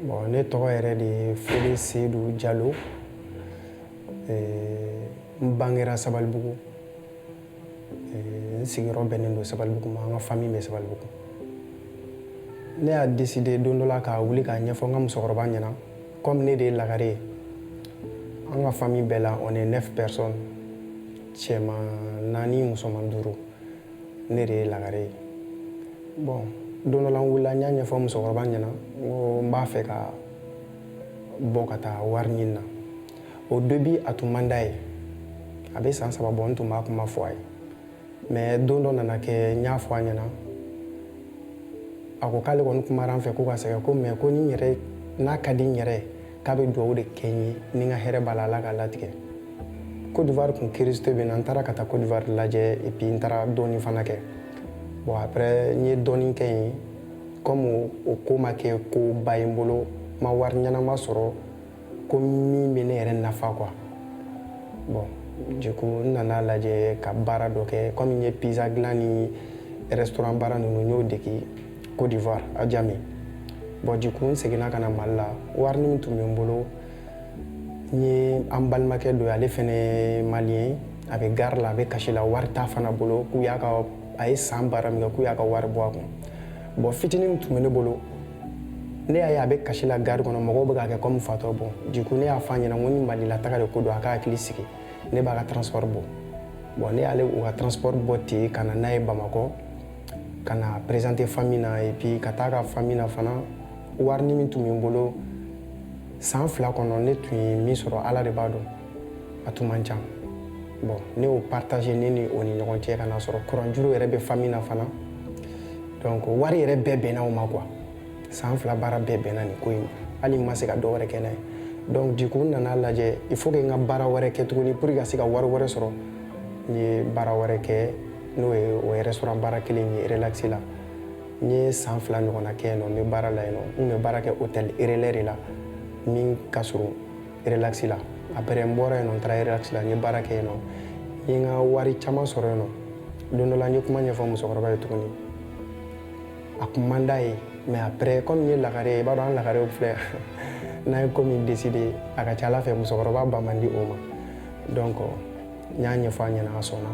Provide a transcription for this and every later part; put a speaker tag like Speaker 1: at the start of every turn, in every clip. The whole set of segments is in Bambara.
Speaker 1: Bon, ne tɔgɔ yɛrɛ de ye Fode Seyidu Jalo. Ee, n bangera Sabalibugu. Ee, n sigiyɔrɔ bɛnnen don Sabalibugu ma, an ka famille bɛ Sabalibugu. Ne y'a décider don dɔ la ka wuli k'a ɲɛfɔ n ka musokɔrɔba ɲɛna comme ne de ye lagare ye. An ka famille bɛɛ la on est 9 personnes. cɛman naani musoman duuru ne de ye lagare ye bon don dɔ la n wulila n y'a ɲɛfɔ musokɔrɔba ɲɛna n ko n b'a fɛ ka bɔ ka taa wari ɲini na au début a tun man d'a ye a bɛ san saba bɔ n tun b'a kuma fɔ a ye mais don dɔ nana kɛ n y'a fɔ a ɲɛna a ko k'ale kɔni kumara n fɛ ko ka sɛgɛn ko mais ko ni n yɛrɛ n'a ka di n yɛrɛ ye k'a bɛ dugawu de kɛ n ye ni n ka hɛrɛ b'a la ala k'a latigɛ Côte d'Ivoire kun curiosité bɛ n na n taara ka taa Côte d'Ivoire lajɛ et puis n taara dɔɔni fana kɛ bon après n ye dɔɔni kɛ yen comme o ko ma kɛ koba ye n bolo n ma wari ɲɛnama sɔrɔ ko min bɛ ne yɛrɛ nafa quoi bon du coup n nana lajɛ ka baara dɔ kɛ comme n ye pizza dilan ni restaurant baara ninnu n y'o dege Côte d'Ivoire à Adjamé bon du coup n seginna ka na mali la wari min tun bɛ n bolo n ye an balimakɛ dɔ ye ale fɛnɛ malien a bɛ gare la a bɛ kasi la wari t'a fana bolo k'u y'a ka a ye san baara min kɛ k'u y'a ka wari bɔ a kun bon fitinin min tun bɛ ne bolo ne y'a ye a bɛ kasi la gare kɔnɔ mɔgɔw bɛ k'a kɛ comme fatɔ bon du coup ne y'a fɔ a ɲɛna ko ni mali la taga de ko don a ka hakili sigi ne b'a ka transport bɔ bon ne y'ale u ka transport bɔ ten ka na n'a ye bamakɔ ka na présenter famille na et puis ka taa ka famille na fana warini min tun bɛ n bolo san fila kɔnɔ ne tun ye min sɔrɔ ala de b'a dɔn a tun man can bon ne y'o partager ne ni o ni ɲɔgɔn cɛ ka n'a sɔrɔ kuranjuru yɛrɛ bɛ famille na fana donc wari yɛrɛ bɛɛ bɛnna o ma quoi san fila baara bɛɛ bɛnna nin ko in ma hali n ma se ka dɔ wɛrɛ kɛ n'a ye donc du coup n nana lajɛ il faut que n ka baara wɛrɛ kɛ tuguni pour que ka se ka wari wɛrɛ sɔrɔ n ye baara wɛrɛ kɛ n'o ye o ye restaurant baara kelen ye Relax la n ye san fila ɲɔgɔnna kɛ yen nɔ n bɛ baara la yen nɔ n kun bɛ baara kɛ hôtel relais de la min ka surun Relax la après n bɔra yen nɔ n taara Relax la n ye baara kɛ yen nɔ n ye n ka wari caman sɔrɔ yen nɔ don dɔ la n ye kuma ɲɛfɔ musokɔrɔba ye tuguni a kun man d'a ye mais après comme n ye lagare ye i b'a dɔn an lagarew filɛ n'an ye ko min décider a ka c'a la fɛ musokɔrɔba ban man di o ma donc n y'a ɲɛfɔ a ɲɛna a sɔnna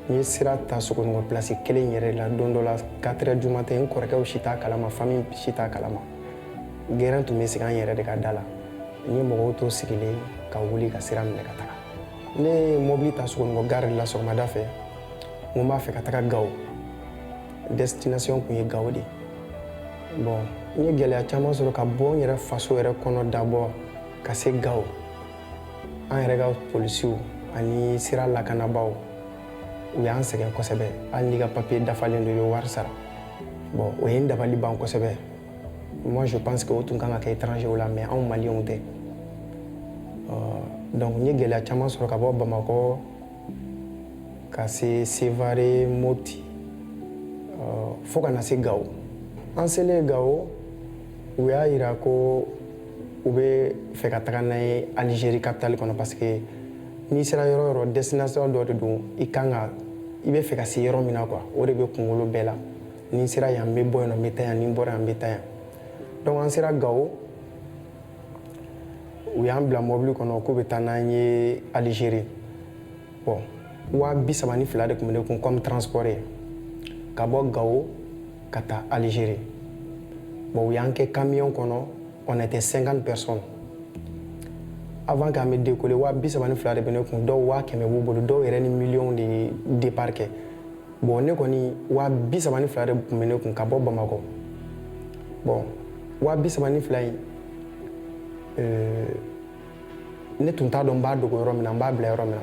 Speaker 1: n ye sira ta sogonikɔ pilasi kelen yɛrɛ la don dɔ la quatre heures du matin n kɔrɔkɛw si t'a kalama famille si t'a kalama gɛrɛn tun bɛ sigi an yɛrɛ de ka da la n ye mɔgɔw to sigilen ka wuli ka sira minɛ ka taga ne ye mɔbili ta sogonikɔ gari la sɔgɔmada fɛ n ko n b'a fɛ ka taga gawo destination tun ye gawo de bon n ye gɛlɛya caman sɔrɔ ka bɔ n yɛrɛ faso yɛrɛ kɔnɔ d'abord ka se gawo an yɛrɛ ka polisiw ani sira lakanabaaw u y'an sɛgɛn kosɛbɛ hali n'i ka papiye dafalen don i bɛ wari sara bon o ye n dabali ban kosɛbɛ moi je pense que o tun kan ka kɛ étranger la mais anw maliyɛnw tɛ euh, donc n ye gɛlɛya caman sɔrɔ ka bɔ bamakɔ ka se sevare mopti euh, fo ka na se gawo an selen gawo u y'a yira ko u bɛ fɛ ka taga n'an ye alizeri kapitali kɔnɔ parce que n'i sera yɔrɔ o yɔrɔ destination dɔ de don i kan ka i bɛ fɛ ka se yɔrɔ min na quoi o de bɛ kunkolo bɛɛ la ni n sera yan n bɛ bɔ yan n bɛ taa yan ni n bɔra yan n bɛ taa yan donc an sera gawo u y'an bila mɔbili kɔnɔ k'u bɛ taa n'an ye alizeri bon waa bi saba ni fila de tun bɛ ne kun comme transport ye ka bɔ gawo ka taa alizeri bon u y'an kɛ kamiyɔn kɔnɔ on était 50 personnes avant k'an bɛ dekole waa bi saba ni fila de bɛ ne kun dɔw waa kɛmɛ b'u bolo dɔw yɛrɛ ni miliyɔn de ye départ kɛ bon ne kɔni waa bi saba ni fila de tun bɛ ne kun ka bɔ bamakɔ bon waa bi saba ni fila in euh, ne tun t'a dɔn n b'a dogo yɔrɔ min na n b'a bila yɔrɔ min na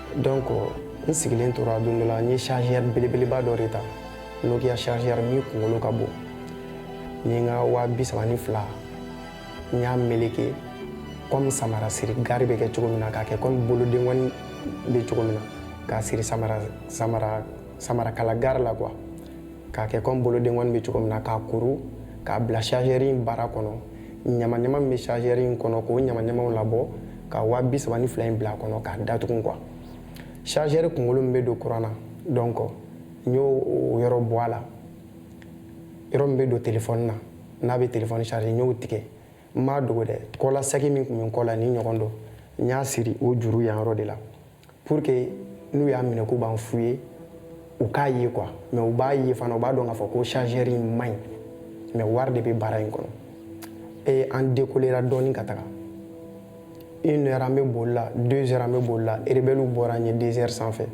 Speaker 1: donc n sigilen tora don dɔ la n ye chargeur belebeleba dɔ de ta nokia chargeur min kunkolo ka bon n ye n ka waa bi saba ni fila n y'a meleke comme samara siri gari bɛ kɛ cogo min na k'a kɛ comme bolodengɔni bɛ cogo min na k'a siri samara kala gari la quoi k'a kɛ kɔmi bolodenkɔni bɛ cogo min na k'a kuru k'a bila chargeur in bara kɔnɔ ɲamaɲama min bɛ chargeur in kɔnɔ k'o ɲamaɲamaw labɔ ka waa bi saba ni fila in bila a kɔnɔ k'a datugu quoi chargeur kunkolo min bɛ don kuran na donc n y'o yɔrɔ bɔ a la yɔrɔ min bɛ don telefɔni na n'a bɛ telefɔni charger n y'o tigɛ n m'a dogo dɛ kɔla saki min tun bɛ n kɔ la nin ɲɔgɔn dɔ n y'a siri o juru yan yɔrɔ de la pour que n'u y'a minɛ k'u b'an fouiller u k'a ye quoi mais u b'a ye fana u b'a dɔn k'a fɔ ko chargeur in man ɲi mais wari de bɛ bara in kɔnɔ et an dekolera dɔɔni ka taga une heure an bɛ boli la deux heures an bɛ boli la rebellew bɔra an ye deux heures sanfɛ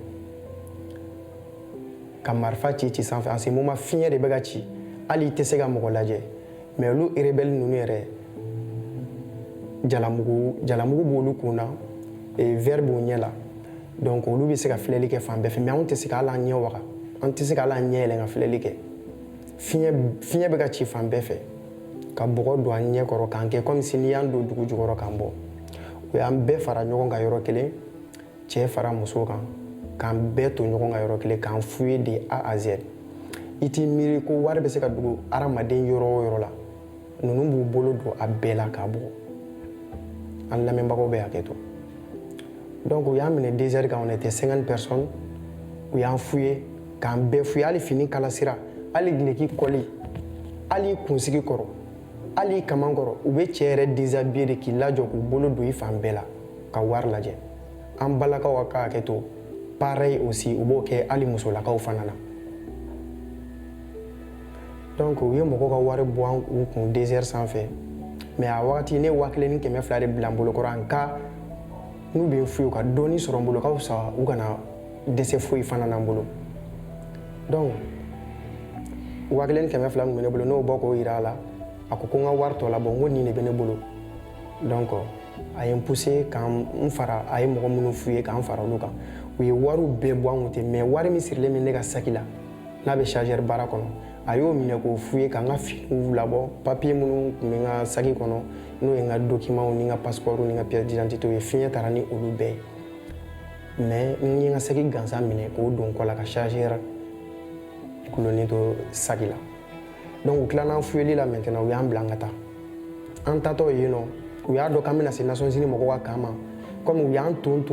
Speaker 1: ka marifa ci ci sanfɛ en ce moment fiɲɛ de bɛ ka ci hali i tɛ se ka mɔgɔ lajɛ mɛ olu erebɛli ninnu yɛrɛ jalamugu b'olu kun na vɛri b'u ɲɛ la donc olu bɛ se ka filɛli kɛ fan bɛɛ fɛ mɛ anw tɛ se ka hali an ɲɛ waga an tɛ se ka hali an ɲɛ yɛlɛ ka filɛli kɛ fiɲɛ bɛ ka ci fan bɛɛ fɛ ka bɔgɔ don an ɲɛ kɔrɔ k'an kɛ komi si n'i y'an don dugu jukɔrɔ k'an bɔ u y'an bɛɛ fara ɲɔgɔn kan yɔrɔ kelen cɛ fara muso kan k'an bɛɛ to ɲɔgɔn kan yɔrɔ kelen k'an fuye de A à Z i t'i miiri ko wari bɛ se ka dogo hadamaden yɔrɔ o yɔrɔ la ninnu b'u bolo don a bɛɛ la k'a bɔ an lamɛnbagaw bɛ hakɛ to donc u y'an minɛ dezɛri kan on était 50 personnes u y'an fuye k'an bɛɛ fuye hali fini kalasira hali gileki kɔli hali kunsigi kɔrɔ hali kaman kɔrɔ u bɛ cɛ yɛrɛ déshabiller de k'i lajɔ k'u bolo don i fan bɛɛ la ka wari lajɛ an balakaw ka ka hakɛ to pareil aussi u b'o kɛ hali musolakaw fana na donc u ye mɔgɔw ka wari bɔ an u kun désert sanfɛ mais a wagati ne waa kelen ni kɛmɛ fila de bila n bolo kɔrɔ en cas n'u bɛ n fuye u ka dɔɔni sɔrɔ n bolo ka fisa u kana dɛsɛ foyi fana na n bolo donc waa kelen ni kɛmɛ fila min bɛ ne bolo n'o bɔ k'o yira a la a ko ko n ka wari tɔ labɔ n ko nin de bɛ ne bolo donc a ye n pousser ka n fara a ye mɔgɔ minnu fuye ka n fara olu kan u ye wariw bɛɛ bɔ an kun ten mɛ wari min sirilen bɛ ne ka saki la n'a bɛ chargeur bara kɔnɔ a y'o minɛ k'o fuye ka n ka finiw labɔ papiye minnu tun bɛ n ka saki kɔnɔ n'o ye n ka dokimanw ni n ka passeport ni n ka pièce d'identité ye fiɲɛ taara ni olu bɛɛ ye mɛ n ye n ka saki gansan minɛ k'o don kɔ la ka chargeur kolonnin to saki la donc u tilala an fuyeli la maintenant u y'an bila an ka taa an tatɔ yen nɔ u y'a dɔn k'an bɛna se Nations Unies mɔgɔw ka camp ma comme u y'an ton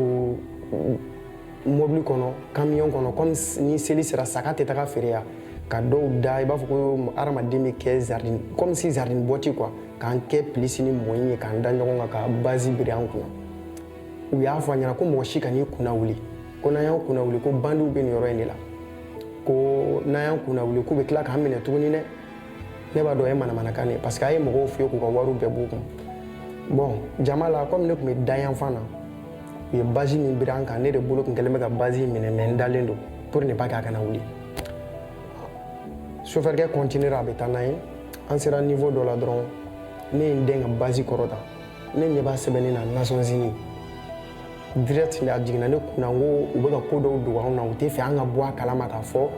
Speaker 1: mobili kɔnɔ kamiyɔn kɔnɔ comme ni seli sera saga tɛ taga feere yan ka dɔw da i b'a fɔ ko hadamaden bɛ kɛ sardine comme si sardine boîte quoi k'an kɛ plus ni moins ye k'an da ɲɔgɔn kan ka bâche biri an kunna u y'a fɔ an ɲɛna ko mɔgɔ si kan'i kunna wuli ko n'an y'an kunna wuli ko bandiw bɛ nin yɔrɔ in de la ko n'an y'an kunna wuli k'u bɛ tila k'an minɛ tuguni dɛ ne b'a dɔn o ye manamanakan ye parce que a ye mɔgɔw fuye k'u ka wariw bɛɛ b'u kun bon jama la komi ne tun bɛ da yanfan na u ye bâche min biri an kan ne de bolo tun kɛlen bɛ ka bâche in minɛ mɛ n dalen don pour ne pas k'a kana wuli sofɛrikɛ kɔntinera a bɛ taa n'an ye an sera nivo dɔ la dɔrɔn ne ye n dɛn ka bâche kɔrɔta ne ɲɛ b'a sɛbɛnni na Nations Unies direct a jiginna ne kunna n ko u bɛ ka ko dɔw dogo anw na u tɛ fɛ an ka bɔ a kalama k'a fɔ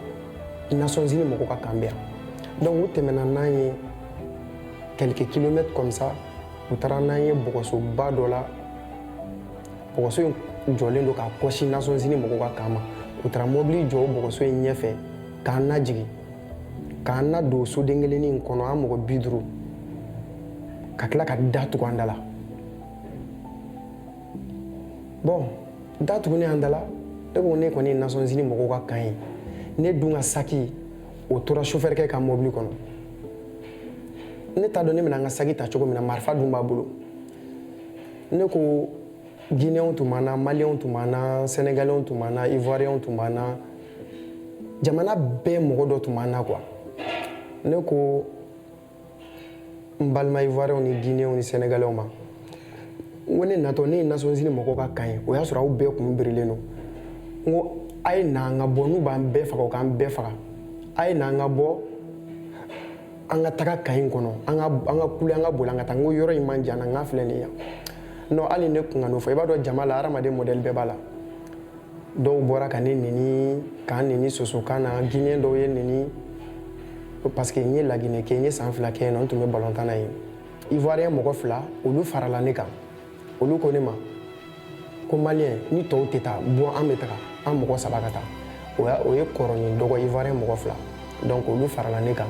Speaker 1: nations unies mɔgɔw ka kan bɛ yan donc u tɛmɛna n'an ye quelques kilomètres comme ça u taara n'an ye bɔgɔsoba dɔ la bɔgɔso in jɔlen don k'a kɔsin nations unies mɔgɔw ka kan ma u taara mɔbili jɔ o bɔgɔso in ɲɛfɛ k'an lajigin k'an na don soden kelennin in kɔnɔ an mɔgɔ bi duuru ka tila ka da tugu an da la bɔn da tugunen an da la ne ko ne kɔni ye nations unies mɔgɔw ka kan ye ne dun ka saki o tora sofɛrikɛ ka mɔbili kɔnɔ ne t'a dɔn ne bɛna n ka saki ta cogo min na marifa dun b'a bolo ne ko gineyɛnw tun b'an na maliyɛnw tun b'an na sɛnɛgalɛw tun b'an na ivoiriyɛnw tun b'an na jamana bɛɛ mɔgɔ dɔ tun b'an na quoi ne ko n balima ivoiriyɛnw ni gineyɛnw ni sɛnɛgalɛw ma n ko ne natɔ ne ye nations unies mɔgɔw ka kan ye o y'a sɔrɔ aw bɛɛ kun birilen don n ko a ye na an ka bɔ n'u b'an bɛɛ faga u k'an bɛɛ faga a ye na an ka bɔ an ka taga kan in kɔnɔ an ka an ka kule an ka boli an ka taa n ko yɔrɔ in man jan an na n k'a filɛ nin yan non hali ne kun kan'o fɔ i b'a dɔn jama la hadamaden mɔdɛli bɛɛ b'a la dɔw bɔra ka ne neni k'an neni sosokan na gineyɛn dɔw ye n neni parce que n ye laginɛ kɛ n ye san fila kɛ yen nɔ n tun bɛ balontan na yen ivoiriyɛn mɔgɔ fila olu farala ne kan olu ko ne ma ko maliyɛn ni tɔw tɛ taa bɔ an bɛ taga an mɔgɔ saba ka taa o y'a o ye kɔrɔ ni dɔgɔ ivoiriyɛn mɔgɔ fila donc olu farala ne kan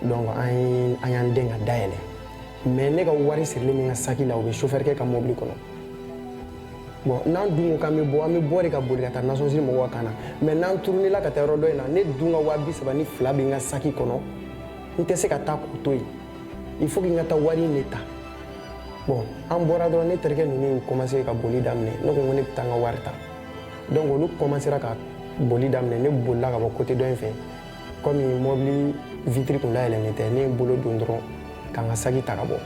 Speaker 1: donc an ye an y'an den ka da yɛlɛ mais ne ka wari sirilen bɛ n ka saki la o bɛ chauffeur kɛ ka mobili kɔnɔ bɔn n'an dun ko k'an bɛ bɔ an bɛ bɔ de ka boli ka taa nations unies mɔgɔw ka kan na mais n'an turunela ka taa yɔrɔ dɔ in na ne dun ka waa bi saba ni fila bɛ n ka saki kɔnɔ n tɛ se ka taa k'o to yen il faut que n ka taa wari in de ta bɔn an bɔra dɔrɔn ne terikɛ ninnu y'u commencé ka boli daminɛ ne ko n ko ne bɛ taa n ka wari ta donc olu commencera ka boli daminɛ ne bolila ka bɔ côté dɔ in fɛ komi mɔbili vitre kun dayɛlɛnnen bɛ ne ye bolo don dɔrɔn ka n ka saki ta ka bɔ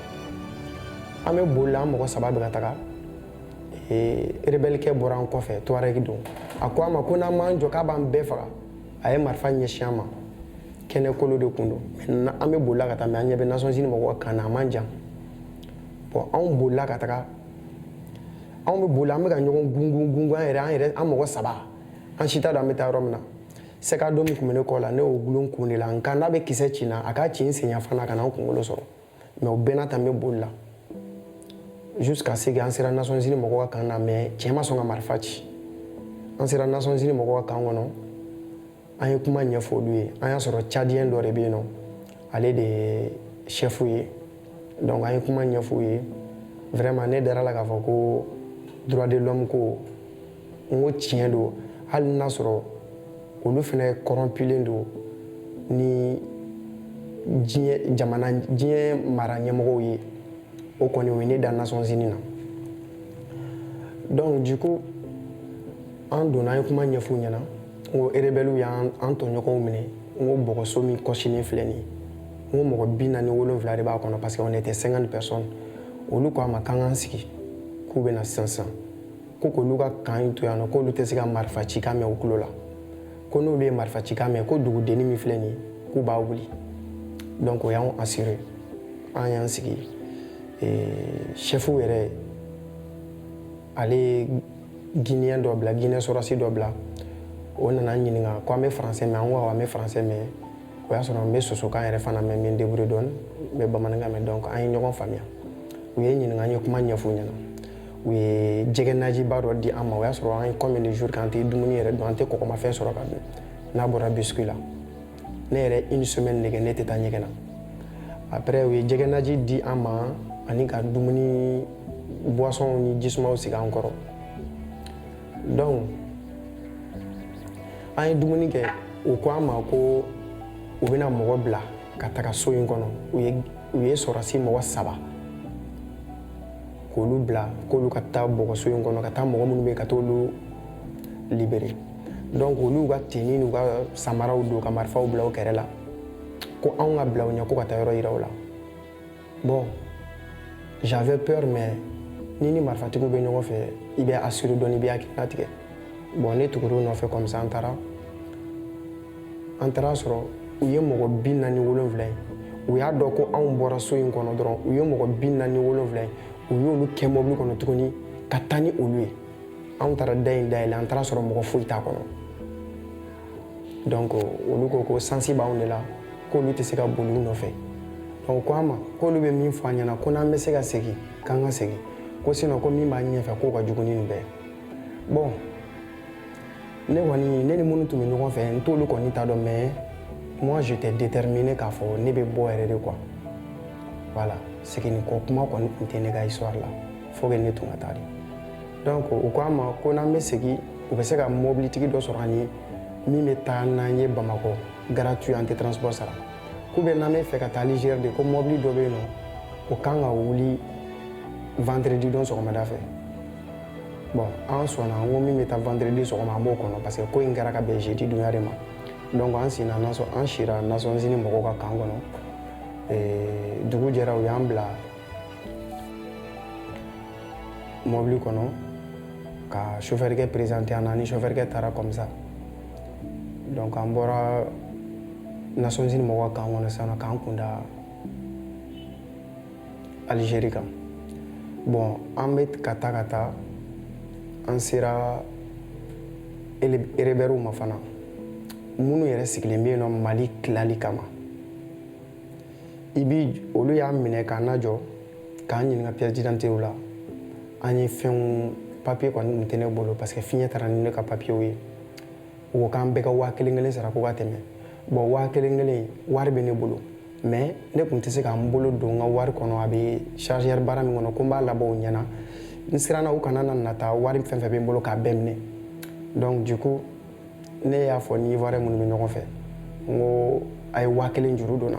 Speaker 1: an bɛ boli la an mɔgɔ saba bɛ ka taga ee rebɛlikɛ bɔra an kɔfɛ tuareg don a ko an ma ko n'an m'an jɔ k'a b'an bɛɛ faga a ye marifa ɲɛsin an ma kɛnɛ kolo de tun don an bɛ boli la ka taa mais an ɲɛ bɛ nations unies mɔgɔw kan na a man jan bɔn anw bolila ka taga anw bɛ boli an bɛ ka ɲɔgɔn gungun gungun an yɛrɛ an yɛrɛ an mɔgɔ saba an si t'a dɔn an bɛ taa yɔrɔ min na sac à dos min tun bɛ ne kɔ la ne y'o dulon kun de la n ko n'a bɛ kisɛ ci n na a k'a ci n sen yanfan na kana n kunkolo sɔrɔ mais o bɛɛ n'a ta n bɛ boli la jusqu'à ce que an sera nations unies mɔgɔw ka kan na mais cɛ ma sɔn ka marifa ci an sera nations unies mɔgɔw ka kan kɔnɔ an ye kuma ɲɛfɔ olu ye an y'a sɔrɔ tchadien dɔ de bɛ yen nɔ ale de ye chef ye donc an ye kuma ɲɛfɔ u ye vraiment ne dara la k'a fɔ ko droit de l'homme ko n ko tiɲɛ don hali n'a sɔrɔ olu fana corrompulen don ni diɲɛ jamana diɲɛ mara ɲɛmɔgɔw ye o kɔni o ye ne da nations unies na donc du coup an donna an ye kuma ɲɛf'u ɲɛna n ko erebɛliw y'an tɔɲɔgɔnw minɛ n ko bɔgɔso min kɔsinen filɛ nin ye n ko mɔgɔ bi naani wolonfila de b'a kɔnɔ parce que on était 50 personnes olu ko an ma k'an k'an sigi k'u bɛna sisan sisan ko k'olu ka kan in to yan nɔ k'olu tɛ se ka marifa cikan mɛn u tulo la ko n'olu ye marifa cikan mɛn ko dugudenni min filɛ nin ye k'u b'a wuli donc o y'anw assurer an y'an sigi chef yɛrɛ ale ye guinéen dɔ bila guinée sɔrɔsi dɔ bila o nana n ɲininka ko an bɛ français mɛn an ko awɔ an bɛ français mɛn o y'a sɔrɔ n bɛ sosokan yɛrɛ fana mɛn n bɛ n débrouiller dɔɔni n bɛ bamanankan mɛn donc an ye ɲɔgɔn faamuya u ye n ɲininka an ye kuma ɲɛf'u ɲɛna u ye jɛgɛ najiba dɔ di an ma o y'a sɔrɔ an ye combien de jours k'an tɛ dumuni yɛrɛ dun an tɛ kɔgɔmafɛn sɔrɔ ka dun n'a bɔra biscuit la ne yɛrɛ une semaine de kɛ ne tɛ taa ɲɛgɛn na après u ye jɛgɛ naji di an ma ani ka dumuni boisson ni jisumaw sigi an kɔrɔ donc an ye dumuni kɛ u ko an ma ko u bɛna mɔgɔ bila ka taga so in kɔnɔ u ye sɔrɔsi mɔgɔ saba k'olu bila k'olu ka taa bɔgɔso in kɔnɔ ka taa mɔgɔ minnu bɛ yen ka t'olu libérer donc olu ka tenue n'u ka samaraw don ka marifaw bila u kɛrɛ la ko anw ka bila u ɲɛ ko ka taa yɔrɔ yira u la bon j'avais peur mais n'i ni marifatigiw bɛ ɲɔgɔn fɛ i bɛ assurer dɔɔni i bɛ hakili latigɛ bon ne tugur'u nɔfɛ comme ça an taara an taara a sɔrɔ u ye mɔgɔ bi naani wolonwula in u y'a dɔn ko anw bɔra so in kɔnɔ dɔrɔn u ye mɔgɔ bi naani wolonwula in u y'olu kɛ mɔbili kɔnɔ tuguni ka taa ni olu ye anw taara da in dayɛlɛ an taara a sɔrɔ mɔgɔ foyi t'a kɔnɔ donc olu ko ko chance b'anw de la k'olu tɛ se ka boli u nɔfɛ donc u ko an ma k'olu bɛ min fɔ an ɲɛna ko n'an bɛ se ka segin k'an ka segin ko sinon ko min b'an ɲɛfɛ k'o ka jugu ni nin bɛɛ ye bon ne kɔni ne ni minnu tun bɛ ɲɔgɔn fɛ n t'olu kɔni ta dɔn mais moi j'étais déterminé k'a fɔ ne bɛ bɔ yɛrɛ de quoi voilà seginni kɔ kuma kɔni tun tɛ ne ka histoire la faut que ne tun ka taa de donc u ko an ma ko n'an bɛ segin u bɛ se ka mɔbilitigi dɔ sɔrɔ an ye min bɛ taa n'an ye bamakɔ gratuit an tɛ transport sara k'u bɛ n'an bɛ fɛ ka taa Alger de ko mɔbili dɔ bɛ yen nɔ o kan ka wuli vendredi don sɔgɔmada fɛ bɔn an sɔnna n ko min bɛ taa vendredi sɔgɔma an b'o kɔnɔ parce que ko in kɛra ka bɛn jeudi donya de ma donc an sinna an sira Nations Unies mɔgɔw ka kan kɔnɔ eh, dugu jɛra u y'an bila mɔbili kɔnɔ ka chauffeurkɛ présenté an na an ni chauffeurkɛ taara comme ça donc an bɔra Nations Unies mɔgɔw ka kan kɔnɔ sisan k'an kunda Algérie kan bɔn an bɛ ka taa ka taa an sera erebɛriw ma fana minnu yɛrɛ sigilen bɛ yen nɔ mali tilali kama i bi olu y'an minɛ k'an lajɔ k'an ɲininka pièce d'identité la an ye fɛnw papiye kɔni tun tɛ ne bolo parce que fiɲɛ taara ni ne ka papiyew ye u ko k'an bɛɛ ka waa kelen kelen sara ko ka tɛmɛ bɔn waa kelen kelen wari bɛ ne bolo mais ne tun tɛ se ka n bolo don n ka wari kɔnɔ a bɛ chargeur bara min kɔnɔ ko n b'a labɔ u ɲɛna n siranna u kana na nata wari fɛn fɛn bɛ n bolo k'a bɛɛ minɛ donc du coup ne y'a fɔ n ni ivoirien minnu bɛ ɲɔgɔn fɛ n ko a ye waa kelen juru don n na